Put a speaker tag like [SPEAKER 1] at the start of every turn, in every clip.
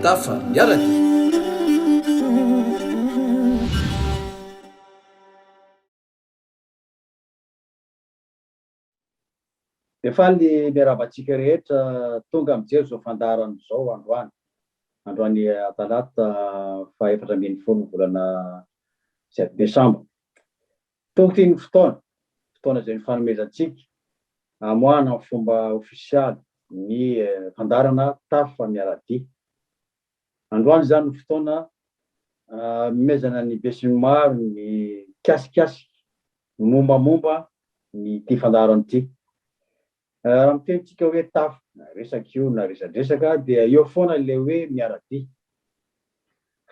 [SPEAKER 1] Tafa miaraka. Dia faly ny miarahaba antsika rehetra tonga mijery izao fandaharana izao androany. Androany Talata faha efatra ambin'ny folo ny volana Desambra. Tongotra iny fotoana, fotoana izay nifanomezantsika hamoahana amin'ny fomba ofisialy ny fandaharana Tafa miara-dia. Androany izany no fotoana hanomezana ny besinimaro ny hikasikasika ny mombamomba ny ity fandaharana ity. Raha miteny tsika hoe tafo na resaka io na resadresaka dia eo foana ilay hoe miara-dia.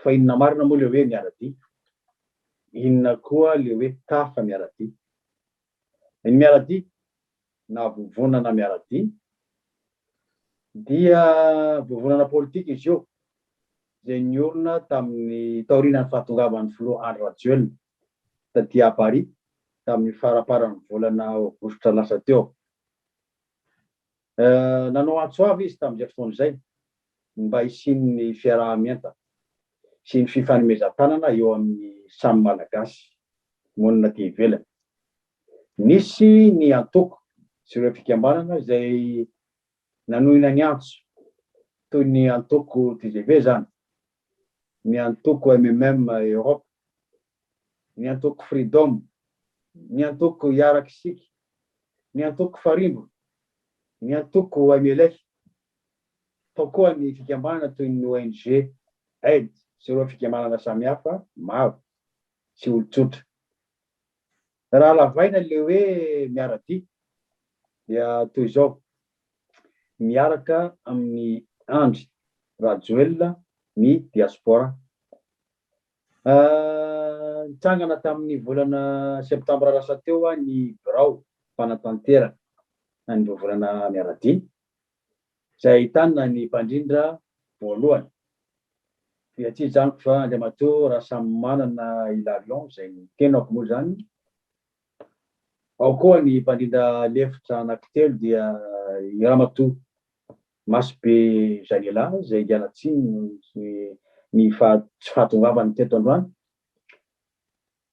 [SPEAKER 1] Fa inona marina moa ilay hoe miara-dia? Inona koa ilay hoe tafa miara-dia? Ny miara-dia na vovonana miara-dia dia vovonana politika izy io izay niorina tamin'ny taorianan'ny fahatongavan'ny filoha Andry Rajoelina ta Diabari tamin'ny faraparan'ny volana Aogositra lasa teo. Nanao antso avo izy tamin'izay fotoana izay ny mba hisian'ny fiaraha-mientana sy ny fifanomezan-tanana eo amin'ny samy Malagasy monina aty ivelany. Nisy ny antoko sy ireo fikambanana izay nanohina ny antso, toy ny antoko tgv izany, ny antoko MMM Europe, ny antoko Freedom, ny antoko Hiaraka Isika, ny antoko Farimbona, ny antoko MLF, tao koa ny fikambanana toy ny ONG Aid sy ireo fikambanana samihafa maro sy olon-tsotra. Raha lavaina ilay hoe miara-dia dia toy izao, miaraka amin'i Andry Rajoelina ny diaspora. Nitsangana tamin'ny volana septambra lasa teo ny birao mpanatanteraka an'ireo volana miara-dia izay ahitana ny mpandrindra voalohany, dia tsy hijanoko fa Andriamatoa Rasamimanana Hilarion izay ny tenako moa izany, ao koa ny mpandrindra lefitra anankitelo dia i Ramatoa Masobe Janela izay hiala tsiny noho ny tsy fahatongavany teto androany.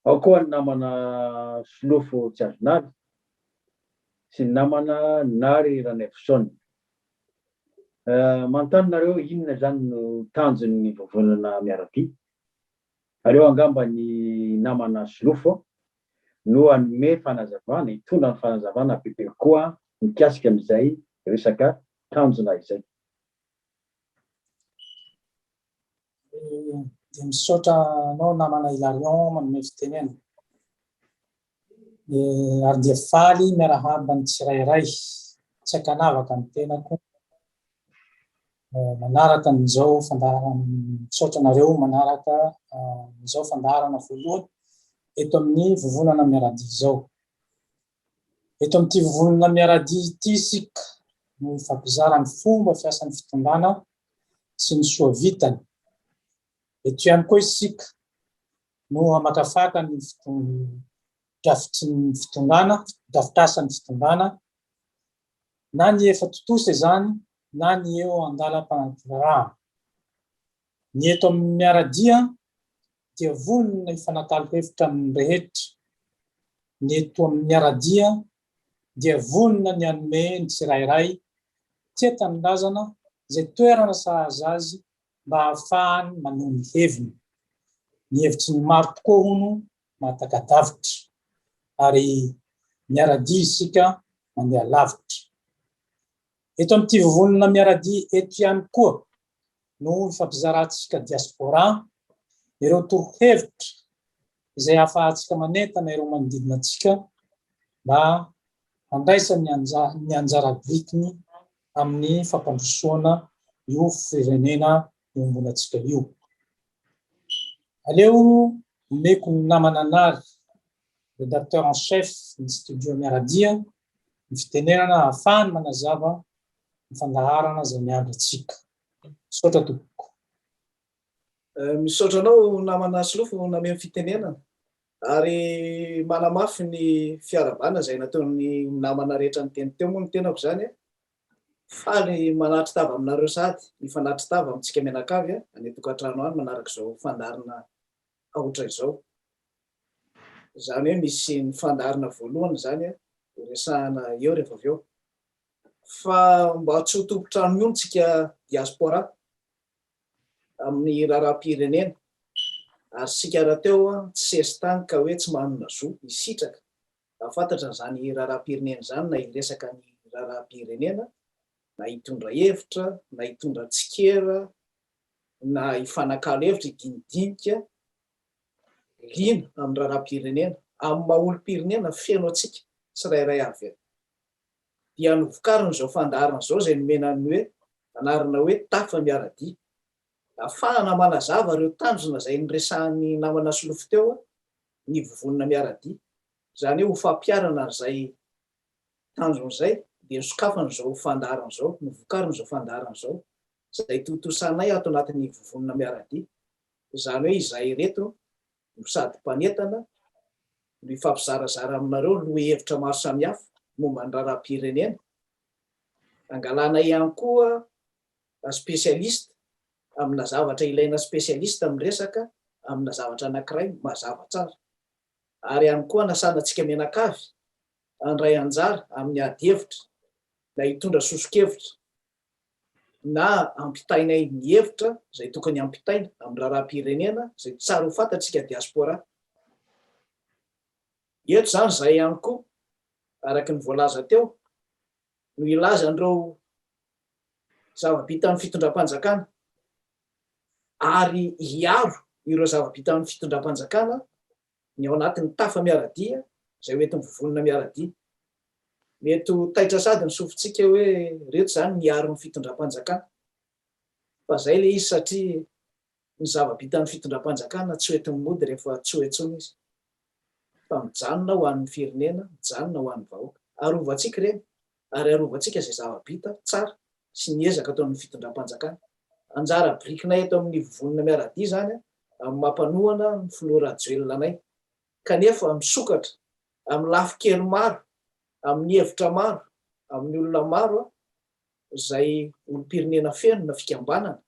[SPEAKER 1] Ao koa ny namana Solofo tsy azo nary sy ny namana nary Ranaivoson. Manontany nareo inona izany no tanjon ny vovonana miarabia? Aleo angamba ny namana Solofo no hanome fanazavana, hitondra ny fanazavana bebe kokoa mikasika an izay resaka tanjona izay. Dia misaotra anao namana Hilarion manome fitenena. Dia ary dia faly miarahaba ny tsirairay. Tsy ankanavaka ny tenako. Manaraka an'izao fandaharana misaotra anareo manaraka izao fandaharana voalohany eto amin'ny vovonana miaradia izao. Eto amin'ity vovonana miara-dia ity isika no hifampizara ny fomba fiasan'ny fitondrana sy ny soa vitany. Eto ihany koa isika no hamakafaka ny drafitry ny fitondrana, drafitr'asan'ny fitondrana, na ny efa tontosa izany na ny eo an-dalam-panatirahan. Ny eto amin'ny miara-dia dia vonona hifanakalo hevitra amin'ny rehetra. Ny eto amin'ny Miaradia dia vonona ny hanome ny tsirairay tia tanindrazana izay toerana sahaza azy mba hahafahany maneho ny heviny. Ny hevitry ny maro tokoa hono mahataka-davitra ary miaradia isika mandeha lavitra. Eto amin'ity vovonana Miaradia eto ihany koa no ifampizarantsika diaspora ireo torohevitra izay ahafahantsika manentana ireo manodidina antsika mba handraisany ny anjara birikiny amin'ny fampandrosoana io firenena iombonantsika io. Aleo omeko ny namana anary, Redacteur en chef ny Studio Miaradia, ny fitenenana ahafahany manazava ny fandaharana izay miandry antsika. Misaotra tompoko. Misaotra anao namana Asilofo nameno fitenenana ary manamafy ny fiaravana izay nataon'ny namana rehetra niteny teo moa ny tenako izany faly manatry tava aminareo sady mifanatry tava amintsika mianakavy any an-tokantrano any manaraka izao fandaharana aotra izao. Izany hoe misy ny fandaharana voalohany izany ho resahana eo rehefa avy eo. Fa mba tsy ho tompon-trano mihono tsika diaspora amin'ny raharaham-pirenena ary sika rahateo tsy sesitany ka hoe tsy manana zo hisitraka raha fantatra an'izany raharaham-pirenena izany na hiresaka ny raharaham-pirenena na hitondra hevitra na hitondra tsikera na hifanakalo hevitra hidinidinika liana amin'ny raharaham-pirenena, amin'ny maha olom-pirenena feno antsika tsirairay avy eo. Dia novokarin'izao fandaharana izao izay nomena ny hoe anarana hoe Tafa miara-dia. Afahana manazava ireo tanjona izay niresahan'ny namana solofo teo ny vovonana miara-dia. Izany hoe ho fampiharana an'izay tanjona izay dia nosokafan'izao fandaharana izao, novokarin'izao fandaharana izao izay tontosanay ato anatin'ny vovonana miara-dia, izany hoe izahay ireto no sady mpanentana no hifampizarazara aminareo lohahevitra maro samihafa momba ny raharaham-pirenena, angalanay ihany koa spécialiste amina zavatra ilaina spécialiste miresaka amina zavatra anankiray mazava tsara, ary ihany koa anasana antsika mianakavy handray anjara amin'ny ady hevitra na hitondra soso-kevitra na ampitainay ny hevitra izay tokony hampitaina amin'ny raharaham-pirenena izay tsara ho fantatsika diaspora. Eto izany izahay ihany koa, araka ny voalaza teo, no hilaza an'ireo zava-bitan'ny fitondram-panjakana ary hiaro ireo zava-bitan'ny fitondram-panjakana, ny ao anatin'ny tafa miara-dia izay hoentin'ny vovonana miara-dia. Mety ho taitra sady ny sofintsika hoe reto izany miaro ny fitondram-panjakana. Fa izay ilay izy satria ny zava-bitan'ny fitondram-panjakana tsy hoentin'ny mody rehefa tsy ho intsony izy. Fa mijanona ho an'ny firenena, mijanona ho an'ny vahoaka. Arovantsika ireny. ary arovantsika izay zava-bita tsara sy ny ezaka ataon'ny fitondram-panjakana. Anjara birikinay eto amin'ny Vovonana Miara-dia izany amin'ny maha mpanohana ny Filoha Rajoelina anay, kanefa misokatra amin'ny lafin-kely maro, amin'ny hevitra maro, amin'ny olona maro izay olom-pirenena feno na fikambanana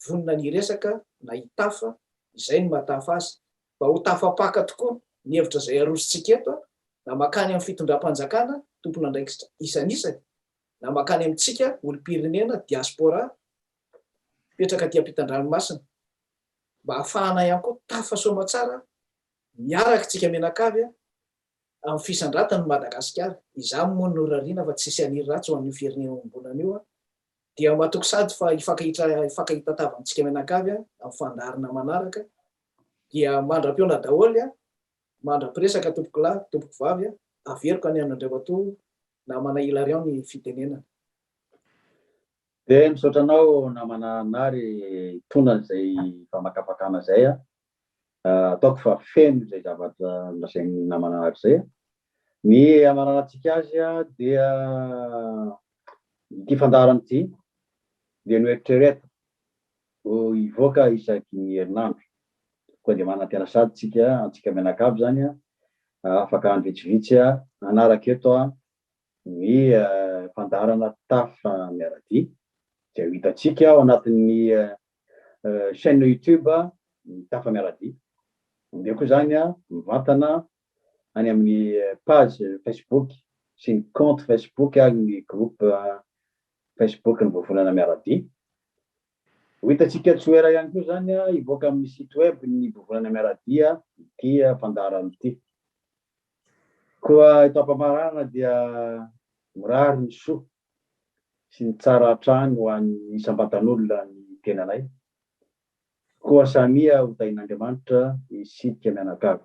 [SPEAKER 1] vonona ny hiresaka na hitafa izay no mahatafa azy Mba ho tafapaka tokoa ny hevitra izay arosontsika eto, na mankany amin'ny fitondram-panjakana, tompon'andraikitra isanisany, na mankany amintsika olom-pirenena, diaspora, mipetraka aty ampitan-dranomasina, mba hahafahana ihany koa tafa soamatsara miaraka tsika mianakavy amin'ny fisandratan'i Madagasikara, izany moa norariana fa tsy hisy haniry ratsy ho an'io firenena iombonana io, dia matoky sady fa hifankahita tavantsika mianakavy amin'ny fandaharana manaraka, Dia mandra-pihaona daholo a! Mandra-piresaka tompokolahy, tompokovavy a! Averiko any amin' Andriamatoa namana Hilarion ny fitenenana. Dia misaotra anao namana Nary hitondra izay famakafakana izay a! Ataoko fa feno izay zavatra nolazain'i namana Nary izay a! Ny hamaranantsika azy a! Dia ity fandaharana ity dia noeritreretiko Ho hivoaka isaky ny herinandro. Koa dia manana tena sady tsika antsika mianakavy zany a, afaka andro vitsivitsy a hanaraka eto a ny fandaharana Tafa miaradia zay ho hitantsika ao anatin'ny chaine youtube ny Tafa miaradia. Omeo koa zany a mivantana any amin'ny page facebook sy ny compte facebook ary ny groupe Facebook ny Vovonana Miaradia. Ho hitantsika Tsoera ihany koa izany hivoaka amin'ny site web ny Vovonana Miaradia ity fandaharana ity. Koa eto am-pamaranana dia mirary ny soa sy ny tsara hatrany ho an'ny isam-batan'olona ny tenanay. Koa samia ho tahin'Andriamanitra isika mianakavy.